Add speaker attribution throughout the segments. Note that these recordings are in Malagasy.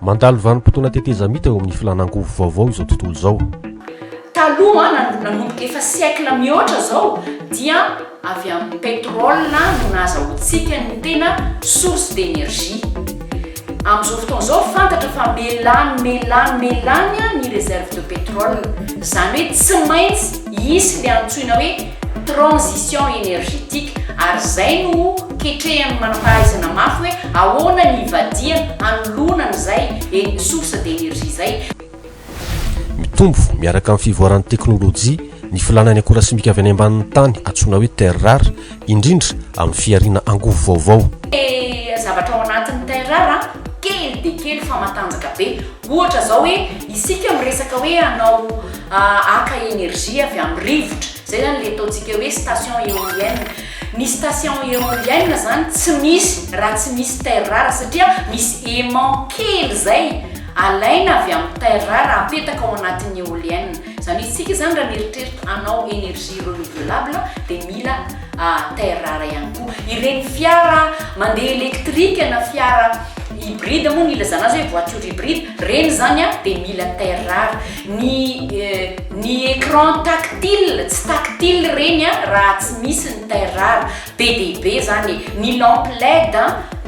Speaker 1: Mandalo vanim-potoana tetezamita eo amin'ny filan'angovo vaovao izao tontolo izao. Taloha,
Speaker 2: nanomboka efa siècle mihoatra izao dia. Avy amin'ny pétrole no nahazahoantsika ny tena source d'énergie. Amin'izao fotoana izao fantatra fa melany, melany, melany ny réserve de pétrole. Izany hoe tsy maintsy hisy ilay antsoina hoe transition énergétique ary izay no ho ketrehan'ny manam-pahaizana mafy hoe ahoana ny hivadihana hanoloana an'izay source d'énergie izay.
Speaker 1: Mitombo miaraka amin'ny fivoaran'ny teknolojia ny filàna ny akora simika avy any ambanin'ny tany antsoina hoe terres rares, indrindra amin'ny fihariana angovo vaovao. Ny zavatra
Speaker 2: ao anatin'ny terres rares kely dia kely fa matanjaka be. Ohatra izao hoe isika miresaka hoe hanao haka énergie avy amin'ny rivotra, izay izany ilay ataontsika hoe station éolienne. Ny station éolienne izany tsy misy raha tsy misy terres rares satria misy aimant kely izay. Alaina avy amin'ny terre rare apetaka ao anatin'ny eolienne. Izany hoe isika izany raha mieritreritra hanao energie renouvelable dia mila terre rare ihany koa. Ireny fiara mandeha elektrika na fiara hybride moa ny ilazana azy hoe voiture hybride, ireny izany dia mila terre rare. Ny ny écran tactile, tsy tactile ireny raha tsy misy ny terre rare. Be dia be izany e. Ny lampe led.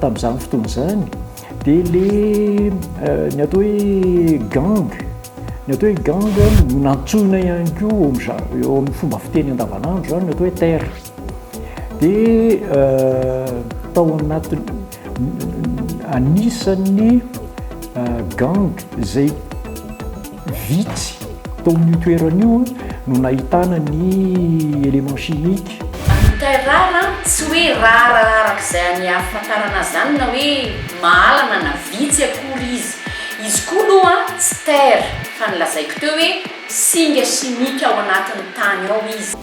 Speaker 3: Tamin'izany fotoana izany dia ilay ny atao hoe gang, ny atao hoe gang no nantsoina ihany koa eo amin'ny za- eo amin'ny fomba fiteny andavanandro izany ny atao hoe terre. Dia tao anatin'ny anisan'ny gang izay. Vitsy tao amin'io toerana io no nahitana ny éléments chimiques. Vitae rara,
Speaker 2: tsy hoe rara araka izay aniafantarana azy izany na hoe mahalana na vitsy akory izy. Izy koa aloha tsy terre fa ny lazaiko teo hoe singa chimique ao anatin'ny tany ao izy.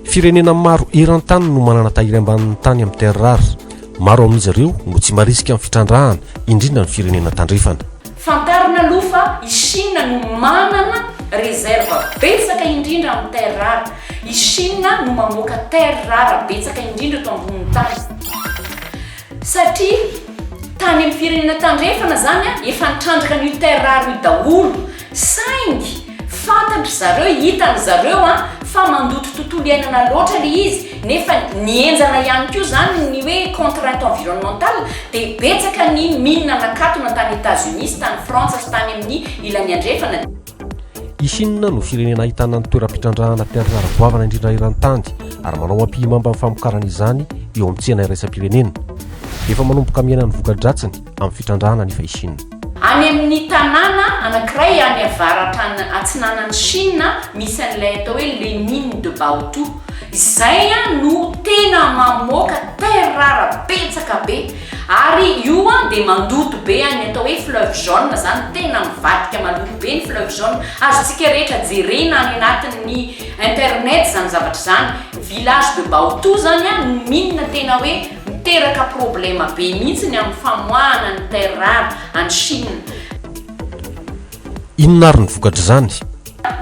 Speaker 2: Firenena
Speaker 1: maro eran-tany no manana tahiry ambanin'ny tany amin'ny terres rares. Maro amin'izy ireo no tsy marisika amin'ny fitrandrahana, indrindra ny firenena tandrefana. Fantarina aloha
Speaker 2: fa i Chine no manana réserve betsaka indrindra amin'ny terres rares. I Chine no mamoaka terres rares betsaka indrindra eto ambonin'ny tany. Satria tany amin'ny firenena tandrefana izany an, efa nitrandraka an'io terre rare io daholo, saingy fantatrry zareo, hitanry zareo an, fa mandoto tontolo iainana loatra ilay izy, nefa ny henjana ihany koa izany ny hoe contrainte environnementale, dia betsaka ny mine nakatona tany Etats Unis sy tany Frantsa sy tany amin'ny ilany andrefana. I
Speaker 1: Shina no firenena ahitana ny toeram-pitrandrahana mpiantra ara-goavana indrindra eran-tany ary manao ampihimamba amin'ny famokarana izany eo amin'ny tsena iraisam-pirenena. Efa manomboka miaina ny voka-dratsiny amin'ny fitrandrahana anefa i Shina. Any amin'ny
Speaker 2: tanàna anankiray any avaratra atsinanan'i Shina misy an'ilay atao hoe Lenine de Baotou. Izay no tena mamoaka terrara betsaka be. Ary io an dia mandoto be an ny atao hoe fleuve jaune zany tena mivadika maloto be ny fleuve jaune azontsika rehetra jerena any anatin ny internet zany zavatra izany village de baotou zany an ny mine tena hoe miteraka problema be mihitsy ny amin ny famoahana ny terre rare any chine.
Speaker 1: Inona ary ny vokatr'izany?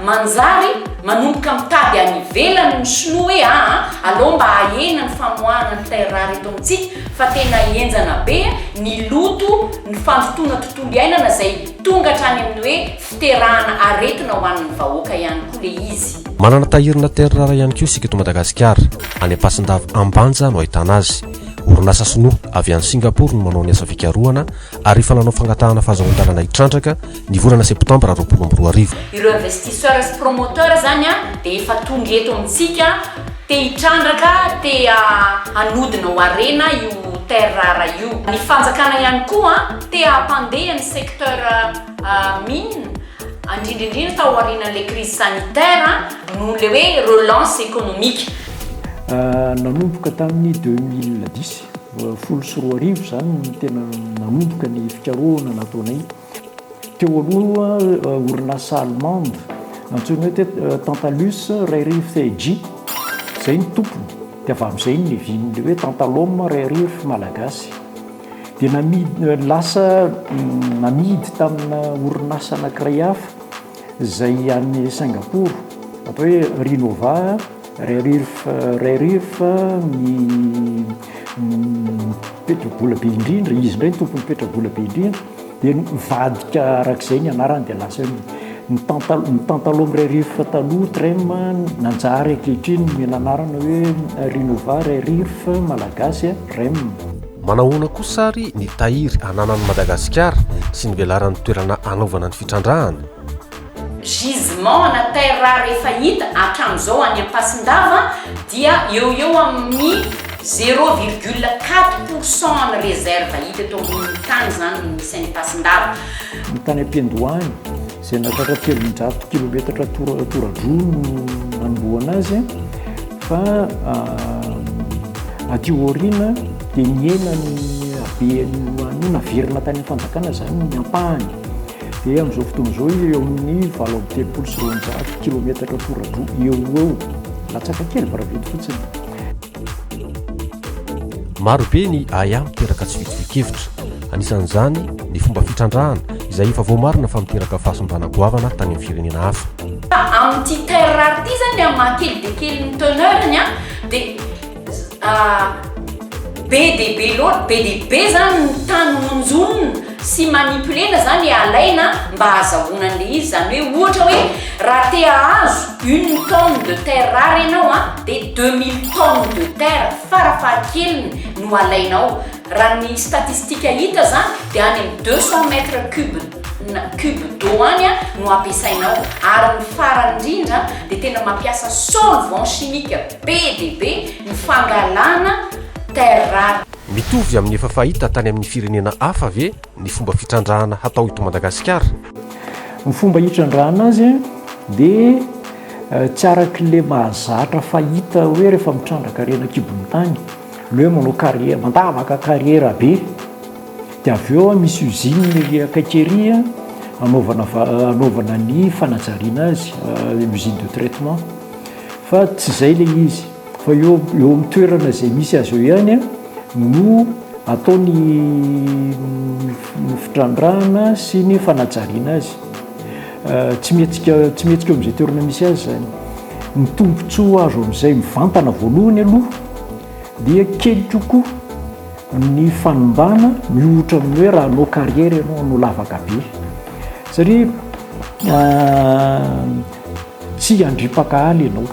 Speaker 1: Manjary
Speaker 2: manomboka mitady any ivelany ny sinoa hoe aa alou mba hahena ny famoahana ny terres rares eto amintsika fa tena henjana be ny loto ny fandotoana tontolo iainana izay tonga hatrany amin'ny hoe fiterahana aretina ho an'ny vahoaka ihany koa le izy. Manana tahirina
Speaker 1: terres rares ihany koa isika eto Madagasikara, any Ampasindava Ambanja no ahitana azy. Orinasa sinoa avy any Singapour no manao ny asa fikarohana ary efa nanao fangatahana fahazoan-dalana hitrandraka ny volana septambra roapolo amby roa arivo. Ireo investisseurs
Speaker 2: sy promoteurs zany an dia efa tonga eto amintsika te hitrandraka, te hanodina ho harena io terre rare io. Ny fanjakana ihany koa te hampandeha ny secteur mines, indrindra indrindra tao aorianan'ilay crise sanitaire noho ilay hoe relance économique.
Speaker 3: Nanomboka tamin'ny deux mille dix, folo sy roa arivo, izany no tena nanomboka ny fikarohana nataonay. Teo aloha, orinasa allemande antsoina hoe Tantalus Rarified, izay no tompony, dia avy amin'izay ny nevin'ny hoe Tantalum Rarif Malagasy. Dia namidy, lasa namidy tamina orinasa anankiray hafa. izay any Singapour atao hoe Rinova Rare-Earth Rare-Earth ny mipetra-bola be indrindra, izy indray ny tompon'ny petra-bola be indrindra dia nivadika arak'izay ny anarany dia lasa hoe ny tanta- ny Tantalum Rare-Earth taloha Trem nanjary ankehitriny nomena anarana hoe Rinova Rare-Earth malagasy Rem. Manahoana
Speaker 1: kosa ary ny tahiry ananan'i Madagasikara sy ny velaran'ny toerana hanaovana ny fitrandrahana?
Speaker 2: Gisement ana terres rares efa hita hatramin'izao any Ampasindava dia eo ho eo amin'ny zéro virgule quatre pour cent an'ny réserve hita eto ambonin'ny tany izany no misy any Ampasindava. Ny tany
Speaker 3: am-piandohany. izay nahatratra telonjato kilometatra tora-dro no nanombohana azy fa aty aoriana dia nihena ny habeany no naverina tany fanjakana izany ny ampahany dia amin'izao fotoana izao izy eo amin'ny valo amby telopolo sy roanjato kilometatra tora-dro eo ho eo latsaka kely varavety fotsiny
Speaker 1: Maro be ny ahiahy miteraka tsy fitovian-kevitra. Anisan'izany ny fomba fitrandrahana izay efa voamarina fa miteraka fahasimbanà goavana tany amin'ny firenena hafa. Amin'ity
Speaker 2: terre rare ity izany ny amin'ny maha kely dia kely ny teneur-ny dia be dia be loatra, be dia be izany ny tany honjonina. sy manipulena zany alaina mba hazahoana an'le izy zany hoe ohatra hoe raha te hahazo une tonne de terre rare ianao a de deux mille tonnes de terre fara fahakeliny no alaina ao raha ny statistique hita zany de any am deux cent mètres cube na cube d'eau any a no ampiasaina ao ary ny farany indrindra de tena mampiasa solvant chimique be dia be ny fangalana terre rare Mitovy amin'ny efa
Speaker 1: fahita tany amin'ny firenena hafa ve ny fomba fitrandrahana hatao eto Madagasikara? Ny
Speaker 3: fomba hitrandrahana azy dia tsy arak'ilay mahazatra fahita hoe rehefa mitrandraka harena an-kibon'ny tany, ny hoe manao kariera, mandavaka kariera be. Dia avy eo misy usine ery akaiky ery anaovana anaovana ny fanajariana azy, usine de traitement. Fa tsy izay ilay izy. Fa eo eo amin'ny toerana izay misy azy eo ihany no atao ny ny fitrandrahana sy ny fanajariana azy. Tsy mihetsika tsy mihetsika eo amin'izay toerana misy azy izany. Ny tombontsoa azo amin'izay mivantana voalohany aloha dia kely kokoa ny fanimbàna miohotra amin'ny hoe raha hanao carrière ianao, hanao lavaka be. Satria tsy handripaka ala ianao.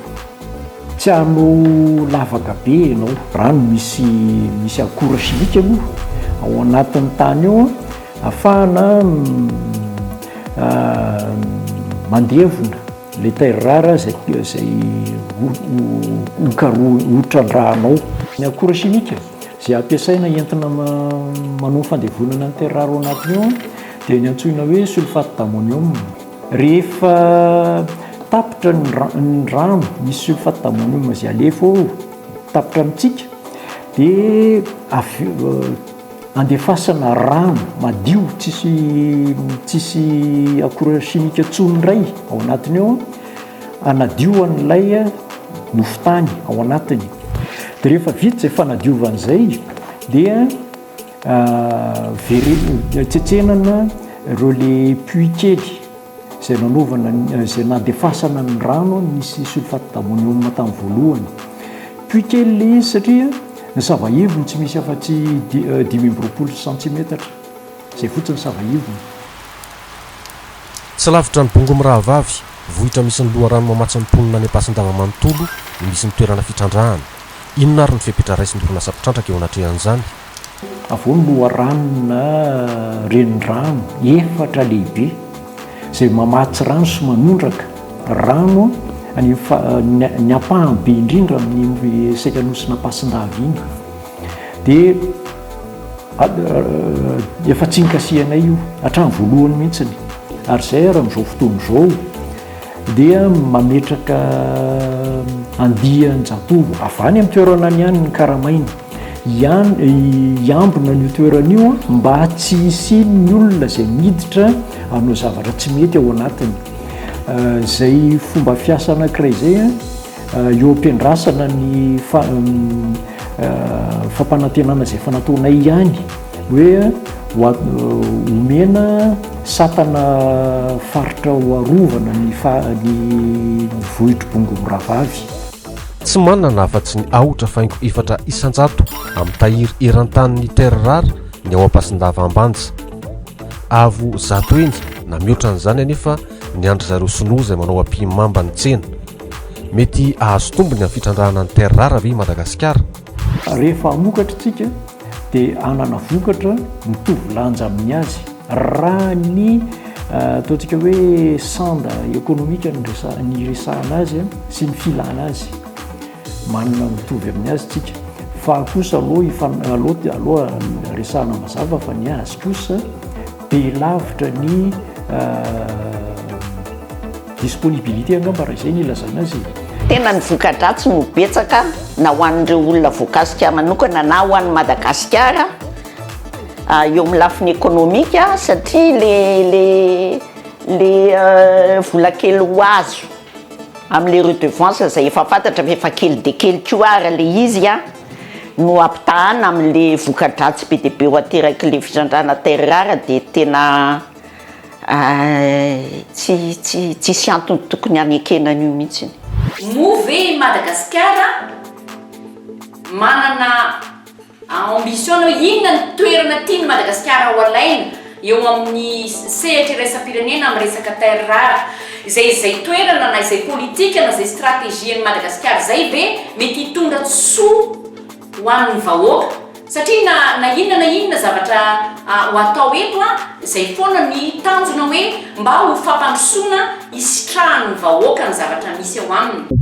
Speaker 3: Tsy hanao lavaka be ianao. Rano misy misy akora chimique aloha ao anatin'ny tany ao afahana mandevona ilay terre rare izay izay hokarohina hotrandrahanao. Ny akora chimique izay ampiasaina entina manao ny fandevonana ny terre rare ao anatiny ao dia ny antsoina hoe sulfate d'ammonium. Rehefa tapitra ny rano, ny sulfate d'ammonium izay alefa ao, tapitra amintsika, dia andefasana rano madio tsisy tsisy akora chimique intsony indray ao anatiny ao hanadio an'ilay nofon-tany ao anatiny. Dia rehefa vita izay fanadiovana izay dia Avereno, tsetsenana ireo le puits kely izay nanaovana, izay nandefasana ny rano nisy sulfate d'ammonium tamin'ny voalohany. Puits kely ilay izy satria ny savaivony tsy misy afa-tsy dimy amby roapolo centimètre izay fotsiny savaivony.
Speaker 1: Tsy lavitra an'i Bongo mirahavavy, vohitra misy ny loharano mamatsy ny mponina any Ampasindrama manontolo no misy ny toerana fitrandrahana. Inona ary ny fepetra raisin'ny orinasa mpitrandraka eo anatrehan'izany? Avo ny
Speaker 3: loharano na renirano efatra lehibe izay mamatsy rano sy manondraka rano ny ampahany be indrindra amin'iny sekan'Nosinampasindahy iny. dia efa tsy nikasihanay io hatramin'ny voalohany mihitsiny ary izay ary amin'izao fotoana izao dia mametraka andian-jatovo avy any amin'ny toerana any ihany ny karamaina ihany hiambina an'io toerana io mba tsy hisian'ny olona izay miditra hanao zavatra tsy mety ao anatiny izay fomba fiasa anankiray izay a Eo am-piandrasana ny fampanantenana izay efa nataonay ihany hoe homena satana faritra ho arovana ny vohitr'i Bongo mirahavavy. Tsy
Speaker 1: manana afa-tsy ny aotra faingo efatra isan-jato amin'ny tahiry eran-tanin'ny terres rares ny ao Ampasindava Ambanja. Avo zato heny na mihoatra an'izany anefa ny an-dry zareo Sinoa izay manao ampihimamba ny tsena. Mety hahazo tombony amin'ny fitrandrahana ny terres rares ve i Madagasikara? Rehefa
Speaker 3: hamokatra isika dia hanana vokatra mitovy lanja amin'ny azy raha ny ataontsika hoe sanda ekonomika ny resahana azy sy ny filana azy. Manana mitovy amin'ny azy isika. Fa kosa aloha aloha resahana mazava fa ny azy kosa be lavitra ny Disponibilité angamba raha izay no ilazana azy e. Tena ny
Speaker 4: voka-dratsy no betsaka na ho an'ireo olona voakasika manokana na ho an'i Madagasikara eo amin'ny lafiny ekonomika satria ilay vola kely ho azo amin'ilay redevance izay efa fantatra fa efa kely dia kely koa ary ilay izy no ampitahana amin'ilay voka-dratsy be dia be ho aterak'ilay fitrandrahana terres rares dia tena Tsy tsy tsisy antony tokony hanekena an'io mihitsy. Moa ve i
Speaker 2: Madagasikara manana ambition na hoe inona ny toerana tian'i Madagasikara ho alaina eo amin'ny sehatra iraisam-pirenena amin'ny resaka terres rares? Izay izay toerana na izay politika na izay stratégie an'i Madagasikara izay ve mety hitondra soa? ho an'ny vahoaka satria na na inona na inona zavatra ho atao eto a izay foana ny tanjona hoe mba ho fampandrosoana hisitrahan'ny vahoaka ny zavatra misy ao aminy.